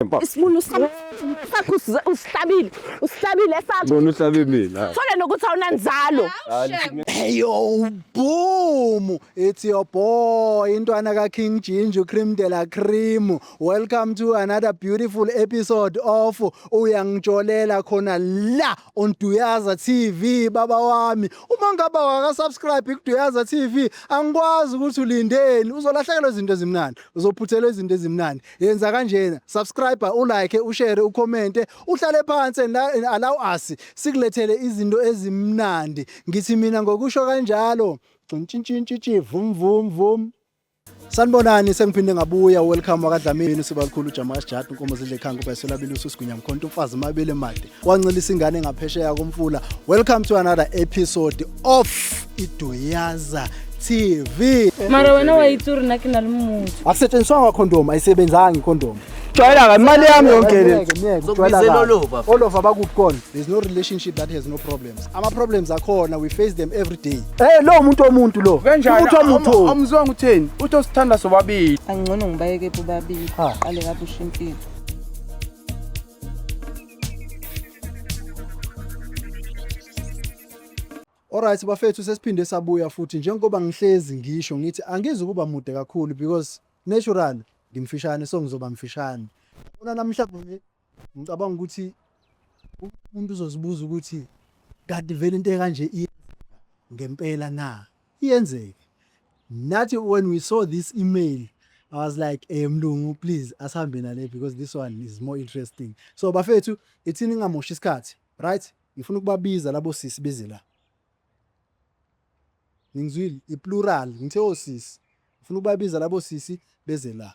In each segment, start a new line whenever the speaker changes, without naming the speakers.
Mfana. Isibulu sakho sakho usi- usihlabile. Usihlabile sakho. Bona uhlabe mina.
Thole nokuthi awunanzalo.
Eyo
boom it's your boy intwana ka King Ginger cream de la cream welcome to another beautiful episode of uyangijolela khona la on Duyaza TV baba wami uma ngaba waka subscribe ku Duyaza TV angikwazi ukuthi ulindeni uzolahlekelwa izinto ezimnandi uzophuthelwa izinto ezimnandi yenza kanjena subscribe ulike ushare ucommente uhlale phansi and allow us sikulethele izinto ezimnandi ngithi mina ngokusho kanjalo gcintshintshintshi vum vum vum sanibonani sengiphinde ngabuya welcome wakadlamini sibalukhulu ujamas jat unkomo zidle khanga ubayisolabile ususigunya mkhonto umfazi mabele made wancelisa ingane ngaphesheya komfula welcome to another episode of iduyaza tv mara wena
wayitsuri nna ke na le motho akusetshenziswanga condom
ayisebenzanga icondom jwayelaka imali
yami yonke le Zokubizela olova
futhi. olova bakuphi kona there's no relationship that has no problems ama-problems akhona we face them every day Eh lo muntu omuntu
lo. Umuntu omuntu.
amzwanga utheni uthi
osithanda sobabili angcono ngibayeke
bobabili Ha. qale kabusha impilo
Alright bafethu sesiphinde sabuya futhi njengoba ngihlezi ngisho ngithi angizi ukuba mude kakhulu because natural ngimfishane so ngizoba mfishane. Bona namhlanje ngicabanga ukuthi umuntu uzozibuza ukuthi kanti vele into ekanje ngempela na? Iyenzeka. Nathi when we saw this email, I was like, eh mlungu please asihambe nale because this one is more interesting. So bafethu, ithini ngingamoshi isikhathi, right? Ngifuna ukubabiza labo sisi beze la. Ngizwile i-plural, ngithe osisi. Ngifuna ukubabiza labo sisi beze la.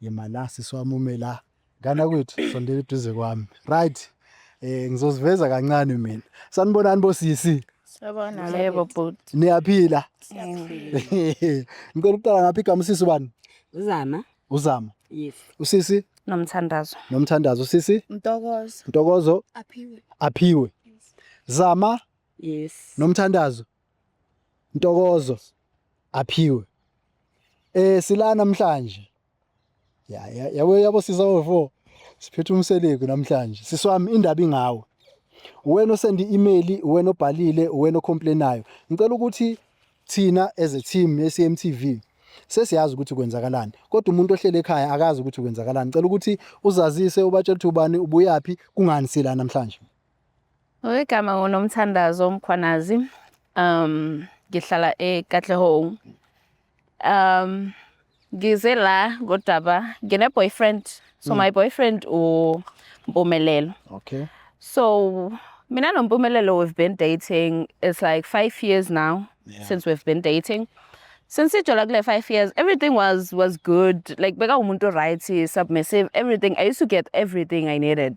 Yema la sisi wami ume la. Ngana kwethu sondela eduze kwami. Right. Eh ngizoziveza kancane mina. Sanibonani bosisi. Siyabona yebo
bhuti. Niyaphila. Ngicela ukuqala
ngaphi igama usisi ubani? Uzama. Uzama. Yes.
Usisi
Nomthandazo.
nomthandazo usisi
Mtokozo. Ntokozo Aphiwe. Aphiwe. Zama Yes.
nomthandazo.
Ntokozo aphiwe. Eh sila namhlanje. Ya ya yabo yabo sisa wofo. Siphethe umseleku namhlanje. Siswami indaba ingawe. Wena osenda i-email, wena obhalile, wena ocomplainayo. Ngicela ukuthi thina as a team ye-CMTV sesiyazi ukuthi kwenzakalani kodwa umuntu ohlele ekhaya akazi ukuthi kwenzakalani. Ngicela ukuthi uzazise ubatshele ukuthi ubani ubuyaphi kungani sila namhlanje. Ngegama
nguNomthandazo Mkhwanazi. Um ngihlala eKatlehong. Um ngize la ngodaba ngine boyfriend. So my boyfriend u Mpumelelo. Okay.
So
mina no Mpumelelo we've been dating it's like 5 years now Yeah. since we've been dating. Since ijola kule 5 years everything was was good. Like beka umuntu right, submissive, everything. I used to get everything I needed.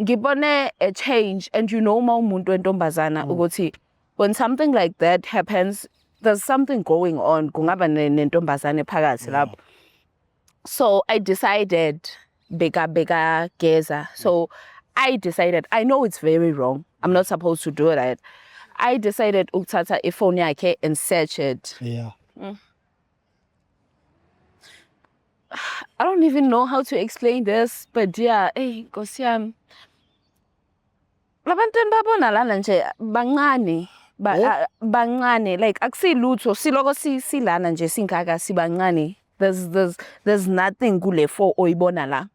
ngibone a change and you know uma umuntu wentombazana mm. ukuthi when something like that happens there's something going on kungaba nentombazane phakathi lapho so i decided beka beka geza so i decided i know it's very wrong i'm not supposed to do that i decided ukuthatha ifone yakhe and search it yeah
mm.
I don't even know how to explain this, but yeah, hey, Nkosi yami. Labantu enibabona lana nje bancane. Ba, oh? uh, bancane like akusilutho siloko si, silana nje singaka sibancane there's there's there's nothing kule fo oyibona la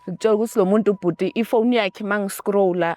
ngitshela ukuthi lo muntu ubhuti ifoni yakhe mangiscrolla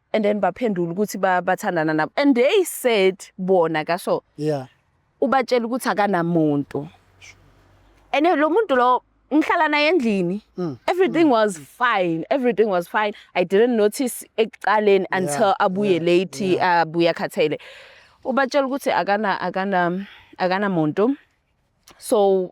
and then baphendula ukuthi ba- bathandana nabo and they said bona kaso yeah ubatshela ukuthi akanamuntu and lo muntu lo ngihlala naye endlini Mm. everything was fine everything was fine i didn't notice ekuqaleni until abuye yeah, late abuye akhathele ubatshela ukuthi akana akana akanamuntu so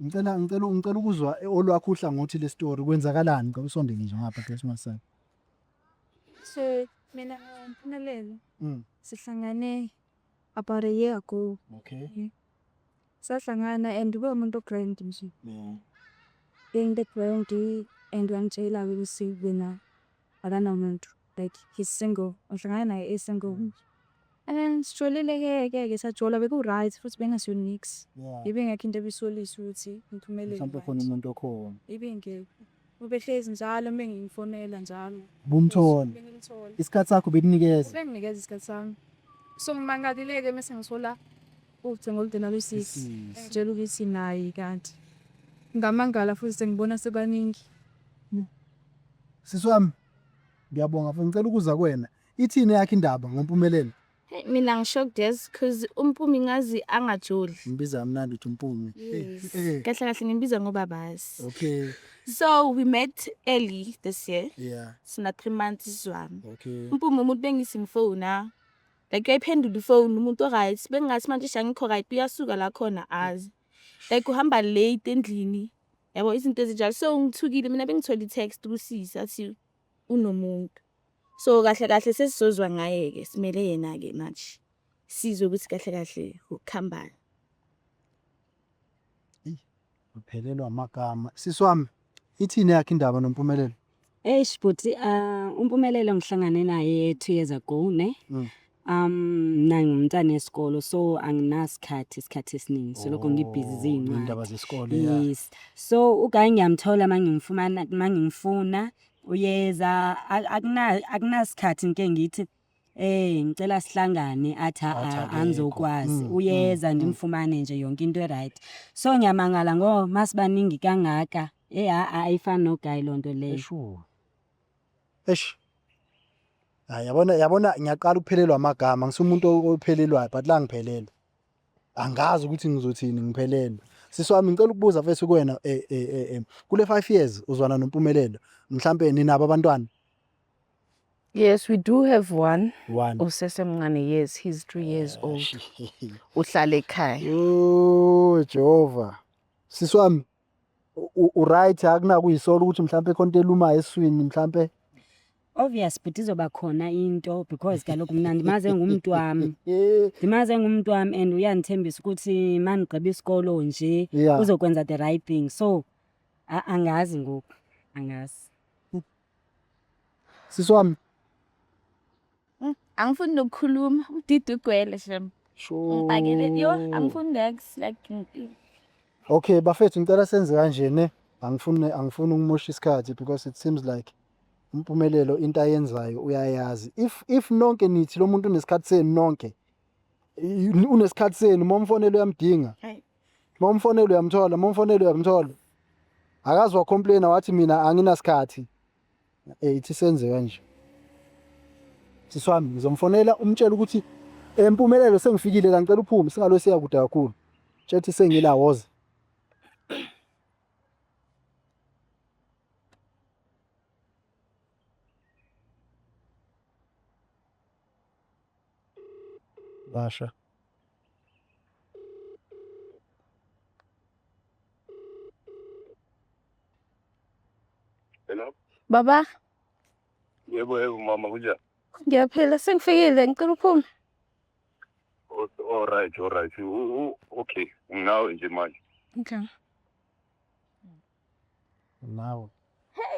Ngicela ngicela ngicela ukuzwa olwakho uhlangothi le story kwenzakalani ngicela usondele nje ngapha Christmas side.
So mina ngimphumelezo. Mm. Sihlangane about a year ago. Okay. Yeah.
Sahlangana
and ube umuntu grand nje. Yeah. Being the grand and wangitshela ukuthi wena akanamuntu. like he's single ngihlangane naye e single and sijolile ke ke ke sajola beku right futhi bengaso nix yeah ibe ngekho into ebisolisa ukuthi ngiphumelele mhlawumbe khona umuntu
okhona ibe ngeke
ubehlezi njalo uma ngiyifonela njalo bumthola
isikhathi sakho bekunikeza benginikeza isikhathi sami
so ngimangalileke mase ngisola ucingo olude nalosisi ngitshela ukuthi nayi kanti ngamangala futhi sengibona sebaningi sisi
wami Ngiyabonga mfo ngicela ukuza kuwena. Ithini yakhe indaba ngompumelelo? Hey, mina ngishocked
yes cause umpumi ngazi angajoli Ngibiza kamnandi uthi
umpumi. Eh, eh, kahle kahle
ngimbiza ngobabazi Okay. so
we met
early this year Yeah. sina three
months
sizwana Okay. umpumi umuntu
bengisimfona
like uyayiphendula ifoni umuntu oright bengingathi manje shangikho right uyasuka la khona azi like uhamba late endlini yabo izinto ezinjalo so ngithukile mina bengithole i-text kusisi athi unomuntu so kahle kahle sesizozwa ngaye-ke simele yena-ke manje sizwe ukuthi kahle kahle ukuhambani
uphelelwa amagama sisi wami ithini yakhe indaba nompumelelo Eish bhuti
uh, umpumelelo ngihlangane naye two years ago ne Mm. um mna ngumntana esikolo so anginasikhathi isikhathi esiningi soloko ngibhizi Oh, iy'ndaba ziyincwadi zesikole ya.
yes so
ugayi ngiyamthola uma ngimfumana uma ngimfuna uyeza a- akuna- akunasikhathi ngike ngithi Eh ngicela sihlangane athi Athi a akekho. angizokwazi Mm, uyeza ndimfumane nje yonke into eright. So ngiyamangala ngo masibaningi kangaka. Eh a a ifani no guy lonto leyo. Eshu.
Eish. Hayi yabona yabona ngiyaqala ukuphelelwa amagama ngisumuntu ophelelwayo but la ngiphelelwe. Angazi ukuthi ngizothini ngiphelelwe. Sisi wami ngicela ukubuza mfethu kuwena eh eh eh, eh kule 5 years uzwana nompumelelo mhlambe ninabo abantwana
Yes, we do have one. One. Usesemncane,
yes, he's three
years old. Uhlala ekhaya. Yo,
Jehova. Sisi wami u- u- uright akunakuyisola ukuthi mhlawumbe khona into elumayo eswini mhlawumbe. Obvious
bhuti izoba khona into because kaloku mna ndimaze ngumntu wami. Eh, Ndimaze ngumntu wami and uyandithembisa ukuthi mandigqiba isikolo nje Yeah. uzokwenza the right thing. So a- angazi ngoku, angazi.
Sisi wami. Mm,
angifuni nokukhuluma, udidi ugwele shem. Sure. Ngibhakele yo, angifuni next like Okay,
bafethu ngicela senze kanje ne. Angifuni angifuni ukumosha isikhathi because it seems like impumelelo into ayenzayo uyayazi. If if nonke nithi lo muntu unesikhathi senu nonke unesikhathi senu momfonelo uyamdinga Uma umfonela uyamthola, uma umfonela uyamthola. Akazi wacomplaina wathi mina anginasikhathi. Eh ithi senze kanje. Sisi wami ngizomfonela umtshela ukuthi empumelelo sengifikile la ngicela uphume singalo siya kude kakhulu. Tshethi sengila woza. Washa.
Hello? Baba, Yebo, yebo, mama, kunjani? ngiyaphila
sengifikile ngicela uphume.
O- All right, all right. U- u- Okay, nginawe nje manje. Okay.
nawe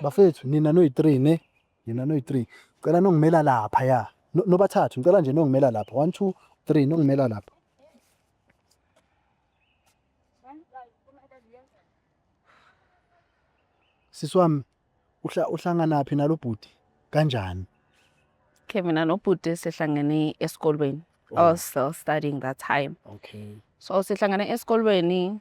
bafethu nina noyi-three ne nina noyi-three cela nongimela lapha ya No- nobathathu ngicela nje nongimela lapha one two three nongimela lapha sisi wami uhla- uhlanganaphi nalo bhuti kanjani
Okay, mina nobhuti sihlangene esikolweni. I was still studying that time. okay So
sihlangene
esikolweni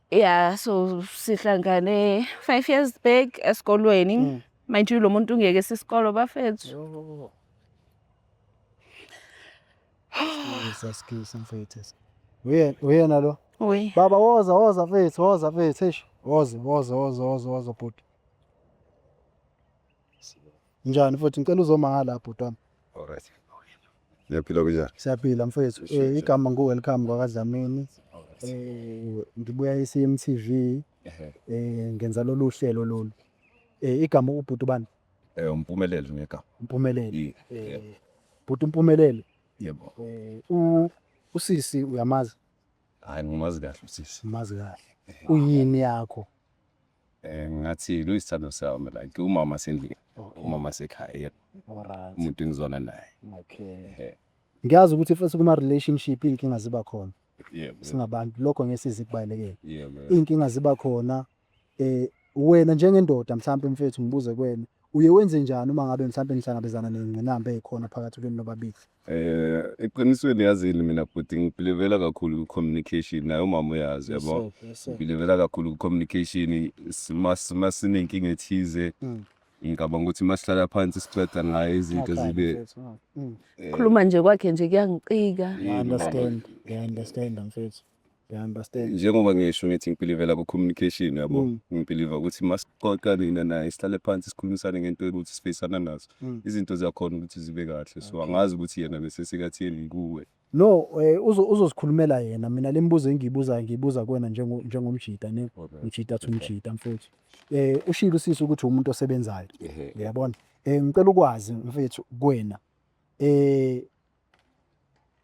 Yeah, so sihlangane five years back esikolweni. Mm. Mind you lo muntu ungeke sisikolo bafethu.
Yo. Saskisa mfethu. Uyena uyena lo. Uyi. Baba woza
woza
mfethu woza mfethu eish. Woza woza woza woza woza bhuti. Njani futhi ngicela uzomangala bhuti wami. Alright.
Ngiyaphila kunjani? Siyaphila mfethu.
Eh igama ngu welcome kwakadlamini. Eh ngibuya eCMTV. Eh ngenza lolu hlelo lolu. Eh igama ubhuti bani? Eh umpumelelo
ngegama. Umpumelelo.
Eh bhuti umpumelelo. Yebo.
Eh u
usisi uyamazi? Hayi ngimazi
kahle usisi. Umazi kahle.
Uyini yakho? Eh,
ngathi lo isithando sami like umama sendlini okay. umama sekhaya yena right. umuntu
engizona naye
okay.
ngiyazi ukuthi futhi kuma-relationship iy'nkinga ziba khona yeah, singabantu
lokho
ngesizi kubalulekile yeah, iy'nkinga
ziba khona
eh wena njengendoda mhlawumpe mfethu ngibuze kwena uye wenze njani uma ngabe mhlawumpe nihlangabezana nengqinamba ezikhona phakathi kwenu nobabili Eh,
eqinisweni yazini mina bhuti ngibhilivela kakhulu ku-communication naye umama uyazi Yes, yabo sir. Yes, sir. ngibhilivela kakhulu ku-communication sima sima sinenkinga ethize Mm. ngicabanga ukuthi uma sihlala phansi sixoxa ngayo izinto Okay, zibe mfethu, ah, mm. eh, khuluma
nje kwakhe nje kuyangicika I understand.
I understand mfethu. njengoba ngisho ngithi
ngibhilivela ku-communication yabo mm. ngibhiliva ukuthi masixoxa nina naye sihlale phansi sikhulumisane ngento ukuthi sifeyisana nazo mm. izinto ziyakhona ukuthi zibe kahle so angazi ukuthi yena bese sekatheni kuwe no eh,
uzozikhulumela yena mina le mibuzo engiyibuzayo ngiyibuza kuwena njengomjita ne ujita athi umjita mfowethu um eh, ushilo usisi ukuthi umuntu osebenzayo uyabona um ngicela ukwazi mfethu kuwena um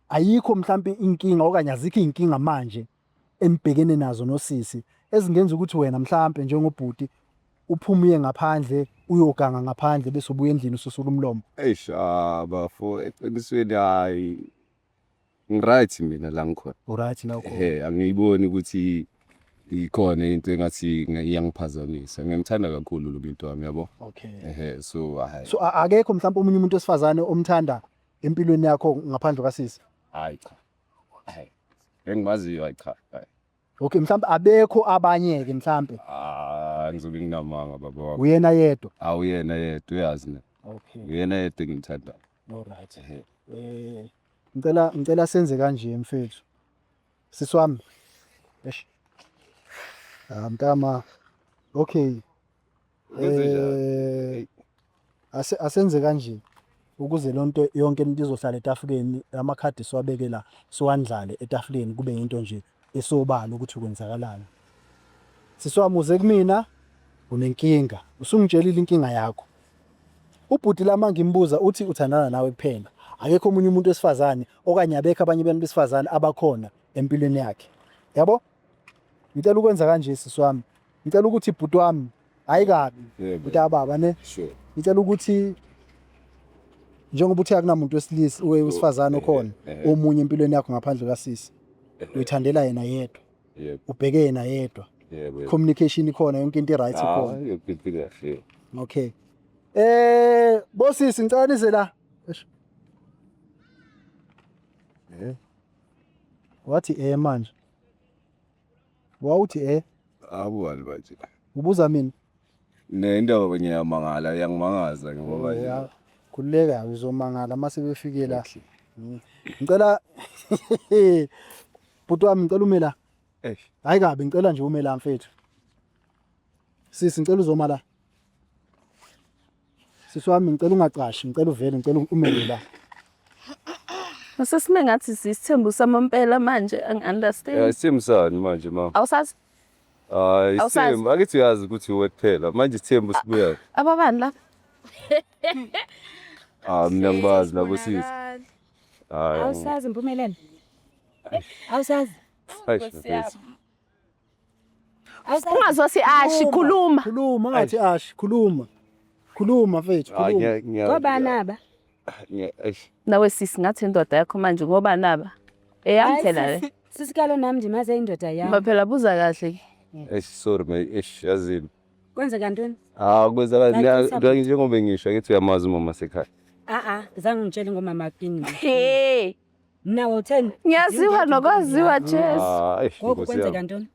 Ayikho mhlampe inkinga okanye azikho izinkinga manje enibhekene nazo nosisi ezingenza ukuthi wena mhlampe njengobhuti uphume uye ngaphandle uyoganga ngaphandle bese ubuya endlini ususula umlomo. Eish ah, bafo
eqinisweni hayi ngiright mina la ngikhona. Uright la ukhona. Ehe
angiyiboni ukuthi
ikhona into engathi nge- iyangiphazamisa. Ngiyamthanda kakhulu lo muntu wami yabo. Okay. Ehe so
hayi. So a-
akekho mhlampe
omunye umuntu wesifazane omthanda empilweni yakho ngaphandle kasisi hayi cha
hayi engimaziyo hayi cha hayi okay mhlawumbe
abekho abanye ke mhlawumbe ah ngizobe
nginamanga baba wakho uyena yedwa awuyena
yedwa
uyazi ne okay uyena yedwa
engimthanda
all right Ehe.
eh ngicela ngicela senze kanje mfethu sisi wami eish ah mntama okay Eh, asenze kanje ukuze lonto yonke into izohlala etafuleni amakhadi siwabeke la siwandlale etafuleni kube into nje esobala ukuthi kwenzakalani siswamuze kumina unenkinga usungitshelile inkinga yakho ubhuti lama ngimbuza uthi uthandana nawe kuphela akekho omunye umuntu wesifazane okanye abekho abanye abantu besifazane abakhona empilweni yakhe yabo ngicela ukwenza kanje sisi wami ngicela ukuthi bhuti wami hayi kabi Yeah, bhuti ababa ne Sure. ngicela ukuthi njengoba uthe akunamuntu wesilisa uwe- wesifazane okhona eh, eh. omunye empilweni yakho ngaphandle kasisi uyithandela yena yedwa Yebo. ubheke
yena yedwa
Yebo. yebo. communication
ikhona yonke
into i-right Ah, ikhona yonke into kahle.
okay
eh bosisi ngicela nize la Eish. Eh? wathi eh manje wawuthi eh akuwani manje
ubuza mina
ne indaba
kwenye yamangala iyangimangaza ngoba nje Ya, khululeka
uzomangala uma sebefike la Mm. ngicela bhuti wami ngicela ume la Eish. hayi kabi ngicela nje ume la mfethu sisi ngicela uzoma la Sisi wami ngicela ungacashi, ngicela uvele, ngicela umele la. Masesime
ngathi sisithembu samampela manje Yeah, angi-understand. isithembu sani manje
mama? Awusazi
Hayi, Awusazi?
isithembu. Angithi
uyazi ukuthi
uwe kuphela. Manje isithembu sibuya. ababani la? Ah, mina ngibazi labo sisi. Bonakala. Hayi. Awusazi mpumelelo.
Awusazi. Hayi, shafesi.
Ungazosi ashi khuluma. Khuluma ungathi ashi
khuluma. Khuluma mfethu ah, khuluma. Ngoba naba.
Nawe sisi ngathi indoda yakho manje ngoba naba. Eyami phela le. Sisikalo nami nje maze
indoda yami. Ngoba phela buza kahle ke.
Eish sorry my
eish yazini. Kwenzeka ntoni?
Ah kwenzeka
ngiyazi njengoba ngisho ngithi uyamazi umama sekhaya. Ah ah, zange
ngitshele ngomama kini. Hey.
Mna wotheni?
Ngiyaziwa nokwaziwa
Jesu. Ah, eish, Ngoku Nkosi kwenzeka yami. ntoni?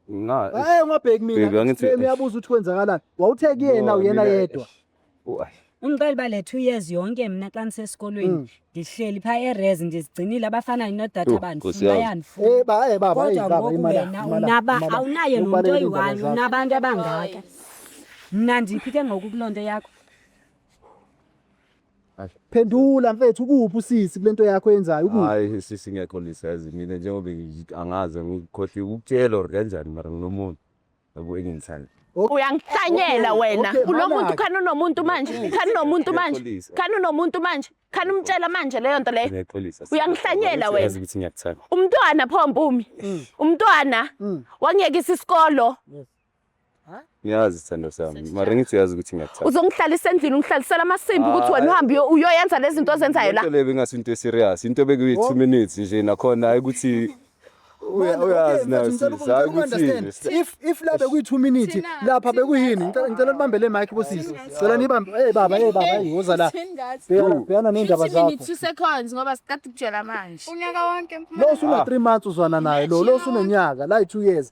Nxa-
eish, Hayi ungabheki Baby, mina. angithi- Shem uyabuza ukuthi kwenzakalani. Wawuthe kuyena no, uyena mina- yedwa. eish. Oh, ai.
Ungiqala uba le two years yonke mna xa ndisesikolweni Mm. ndihleli phaa erez ndizigcinile abafana nodata Yho, Nkosi bandifuna yami. bayandifuna. Eh ba eh baba kodwa
baba ngoku imali. wena
unaba awunaye nomntu oyi-one unabantu abangaka mna ndiphi ke ngoku kuloo nto yakho
Phendula mfethu ukuphi usisi kulento yakho yenzayo ukuphi? Hayi sisi ngekho
lisazi mina njengoba ngi- angazi ngikhohliwe ukutshela or kanjani mara nginomuntu yabo engimthanda. Uyangihlanyela
Okay, wena. okay, Kulo muntu malaki. khani unomuntu manje. Please, Khani unomuntu manje. ngiyaxolisa. Khani unomuntu manje. Khani umtshela manje leyo nto leyo. Ngiyaxolisa. sisi. Uyangihlanyela
Yazi wena.
ukuthi ngiyakuthanda.
Umntwana pho Mpumi.
Umntwana Mm. wangiyekisa isikolo.
ngiyazi sithando sami mara ngithi uyazi ukuthi ngiyakuthanda uzongihlalisa endlini ungihlalisela
amasimba ukuthi wena uhambe uyo- uyoyenza lezi zinto ozenzayo la Into le bengasi into eserious
into bekuyi 2 minutes nje nakhona hayi ukuthi uya- uyazi nayo sis hayi ukuthi if if la bekuyi-two
minute Thina, lapha thina. bekuyini Ngicela- ngicela nibambe le mike bosisi cela nibambe ey baba ey baba ey woza la Bhekana- bhekana ney'ndaba zakho two seconds ngoba
siqeda ukutshela manje unyaka wonke lo usuna-three months
uzwana naye lo lo usunonyaka la yi-two years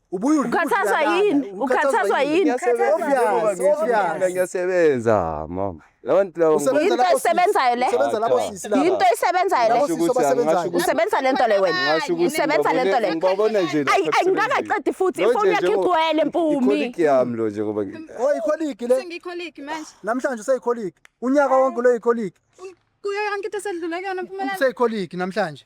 Ukhathazwa yini?
Ukhathazwa yini? Ngiyasebenza mama. Labantu laba Yinto
esebenzayo le. Usebenza lapho sisi laba. Yinto esebenzayo
le. Labo sisi
obasebenzayo.
Usebenza lento le wena. Ngasho ukuthi Usebenza lento le. ngibabona nje la. Ayi ayi
ngakaqedi futhi
Lo ifoni nje yakhe njengo- igcwele mpumi. Ikholiki yami lo nje
ngoba ngi- Oh ikholiki le.
Sengikholiki manje.
Namhlanje useyikholiki.
Unyaka wonke lo ikholiki. Kuyo yonke into
esedlule kuyona mpumelelo. Useyikholiki namhlanje.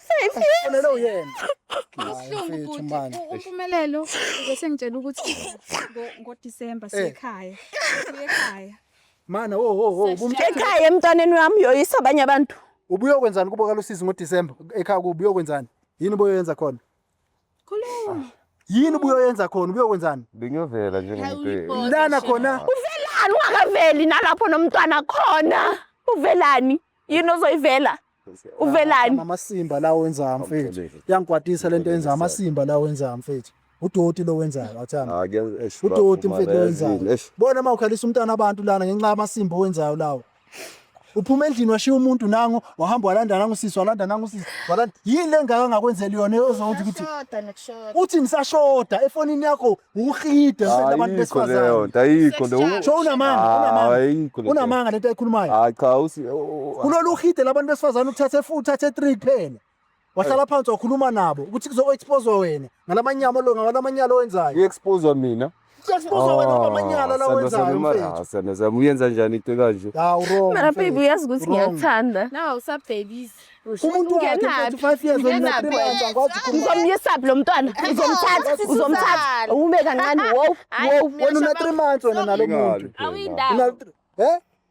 Ufanele
uyena. Ubuhlungu bhuti
umpumelelo bese ngitshela ukuthi ngoDisemba eh. siyekhaya.
Siyekhaya. Mana wo wo wo
ekhaya emntwaneni wami uyoyisa abanye abantu. Ubuyokwenzani kubo
kalusizi ngoDisemba ekhaya kubuyokwenzani? Yini ubuyoyenza
khona?
Khuluma. Yini ubuyoyenza khona ubuyokwenzani? Bengiyovela nje
ngempela. Lana khona.
Uvelani ungakaveli
nalapho nomntwana khona? Uvelani? Yini ozoyivela? Uvelani? Amasimba lawo
wenza mfethu. Yangikwatisa lento yenza amasimba lawo wenza mfethu. udoti lo wenzayo athanda ah, udoti mfethu lo wenzayo bona uma ukhalisa umntana abantu lana ngenxa yamasimba owenzayo lawo uphuma endlini washiya umuntu nangu wahamba walanda nangu sisi walanda nangu sisi walanda yini lengaka ngakwenzeli yona ezothi ukuthi uthi nisashoda efonini yakho ukhida abantu besifazane ayikho leyo sho
unamanga
unamanga unamanga lento ayikhulumayo hayi cha usi
kulolu
khide labantu besifazane ukuthatha efu uthathe 3 kuphela wahlala phansi wakhuluma nabo ukuthi kuzo-expozwa wena ngalamanyama lo ngalamanyala owenzayo i-expozwa mina
kuexpozwa
wena ngamanyala la wenzayo mfethu sanazam uyenza njani
into kanje ya urong Mara baby
uyazi ukuthi
ngiyakuthanda. Nawu usabhebisi.
umuntu wakhe
mfethu five years old na three months angikwazi ukukhuluma Uzomyisaphi lo mntwana?
Uzomthatha, sisi uzomthatha. Suzan. Ume kancane. Wow, Hayi, wow. mina wena una shabang- three
months wena nalo muntu Ingabi. Awuyindaba. Una-
he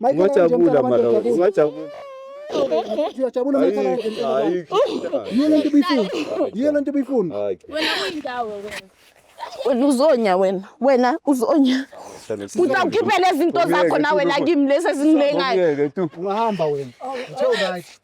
Ungajabula mara, ungajabula.
Siyajabula uma ithola yini lento bifuna. Yini lento bifuna. Wena uyindawo
wena. Wena
uzonya wena. Wena uzonya. Utawukhiphela izinto zakho nawe la kimi lesi ezingilengayo. Ungahamba wena.
Uthe right.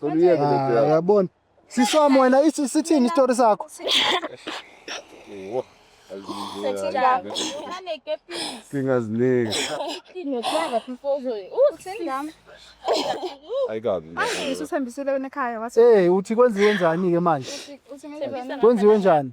Cela uyeke le nto yakho. Yabona. Sisomo wena isi- sithini istory sakho? Wo, azinike ya.
Singazinike. Ayikabi. Usithembisile wena
ekhaya wathi Hey, uthi kwenziwe njani
ke manje? uthi ngeke Kwenziwe njani?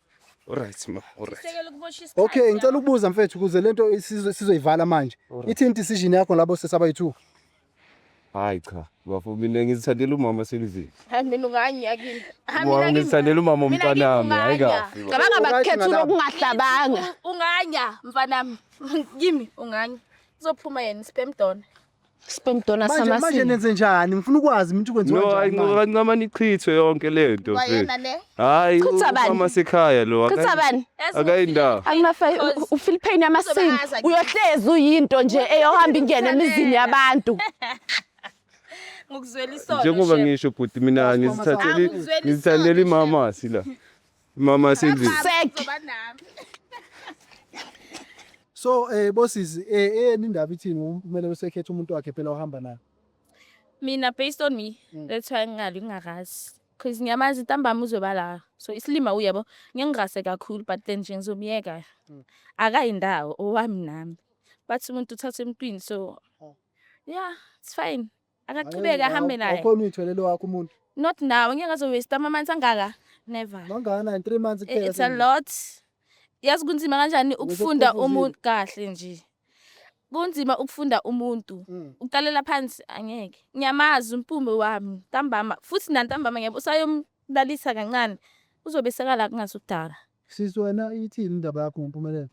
Alright
ma, alright. Sekela ukumosha isikhathi. Okay,
ngicela ukubuza mfethu
kuze lento isizo- sizoyivala manje. Ithini decision yakho labo sesabayi two?
Hayi cha, bafo mina ngizithandela umama selivile. Hayi mina unganye
yakini. Hayi Wa- mina kimi. Ngizithandela
umama Mina womntanami, kimi hayi unganya. kahle. bafo. Cabanga bakukhethula Ngalapho.
okungahlabanga. Unganya
mfanami. Kimi unganya. Uzophuma yena sperm donor. Sperm donor Manje
manje samasimba. nenze
njani?
Ngifuna
ukwazi mina ukuthi kwenziwa no kanjani. ayinqoba kancama
nichithwe yonke lento Kwayena le.
hayi Chitha bani?
umama
sekhaya lo Chitha
akayi- bani?
akayindawo
Akunafa Because-
ufeel pain yamasimba. Uzobaza ke. Uyohlezi uyinto nje eyohamba ingene emizini yabantu. Ngokuzwela
isono. njengoba Shep. ngisho bhuti
mina ngizithatheli Angizweli ngizithatheli isono, Shep. imamasi la Mama asendlini.
Sek. So eh bosisi eh eyeni indaba ithini kumele usekhethe umuntu wakhe phela ohamba naye. Mina
based on me, Mm. that's why ngingali ngingakazi. Cause ngiyamazi ntambama uzoba la. So isilima uyabo, ngiyengirase kakhulu but then nje ngizomyeka. Mm. Akayi ndawo owami nami. Bathi umuntu uthatha emntwini so Oh. yeah, it's fine. akaqhubeke ahambe naye ukhona uyitholele wakho umuntu
not now ngeke ngazo
waste ama months angaka never mangana in 3 months
kuphela it's a lot
yazi kunzima kanjani ukufunda umuntu kahle nje kunzima ukufunda umuntu mm. uqalela phansi angeke ngiyamazi umpumbe wami ntambama futhi nantambama ngiyabo usayomlalisa kancane uzobe sekala kungasudala
sisi wena ithini indaba yakho ngompumelelo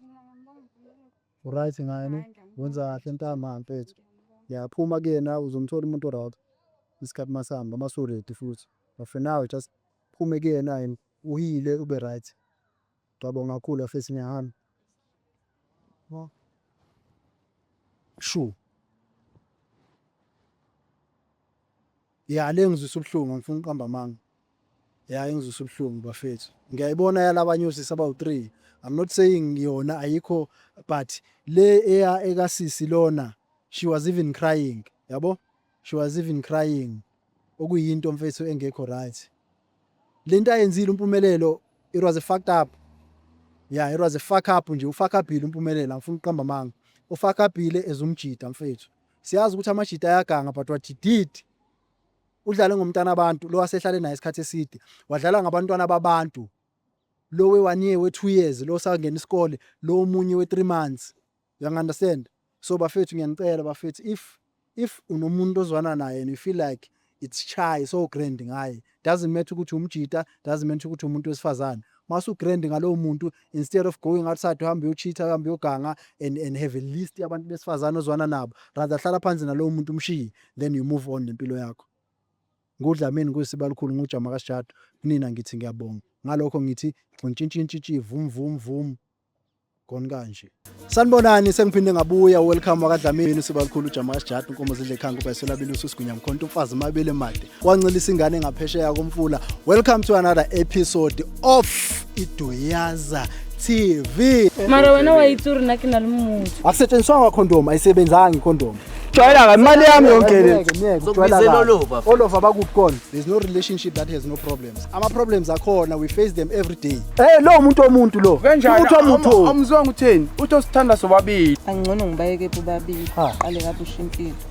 Uryt ngani? Wenza kahle ntambama mfethu. Ya phuma kuyena uzomthola umuntu oryt. Isikhathi masihamba masuredi futhi. But for now just phume kuyena and uhile ube ryt. Ngiyabonga kakhulu afethu ngiyahamba. Sure. Ya le engizwisa ubuhlungu angifuni uqamba amanga ya engizwisa ubuhlungu bafethu ngiyayibona yalabanye osisi abawu three I'm not saying yona ayikho but le eya ekasisi lona she was even crying yabo she was even crying okuyinto mfethu engekho right lento ayenzile umpumelelo it was a fucked up yeah it was a fuck up nje ufuck upile umpumelelo angifuni uqamba amanga ufuck upile ezumjida mfethu Siyazi ukuthi amajita ayaganga but what he did udlale ngomntana abantu lo wasehlale naye isikhathi eside wadlala ngabantwana babantu lo we one year we two years lo sangena isikole lo omunye we three months you understand so bafethu ngiyanicela bafethu if if unomuntu ozwana naye and you feel like it's shy so grand ngaye doesn't matter ukuthi umjita doesn't matter ukuthi umuntu wesifazane masu grand ngalowo muntu instead of going outside uhambe uyochitha uhambe uyoganga and and have a list yabantu besifazane ozwana nabo rather hlala phansi nalowo muntu umshiye then you move on nempilo yakho ngudlamini kuyisiba likhulu ngujama kasijado kunina ngithi ngiyabonga ngalokho ngithi gxintshintshintshintshi vum vum vum khona kanje sanibonani sengiphinde ngabuya welcome wakadlamini siba likhulu ujama sijati inkomo zidle ekhanga ubhayisela bilusi usigunya mkhonto umfazi mabele made wancelisa ingane ngaphesheya komfula welcome to another episode of iduyaza tv mara wena
wayitsuri na ke na le motho akusetshenziswanga condom
ayisebenzanga icondom jwayela kabi imali
yami yonke le Ngeke, ngeke, ujwayela Zokubizela kabi.
olova. olova bakuphi kona there's no relationship that has no problem problems ama problems akhona we face them every day eh lo umuntu omuntu
lo umuntu omuntu
omzonga utheni uthi
osithanda sobabili
angcono
ngibayeke bobabili qale kabusha impilo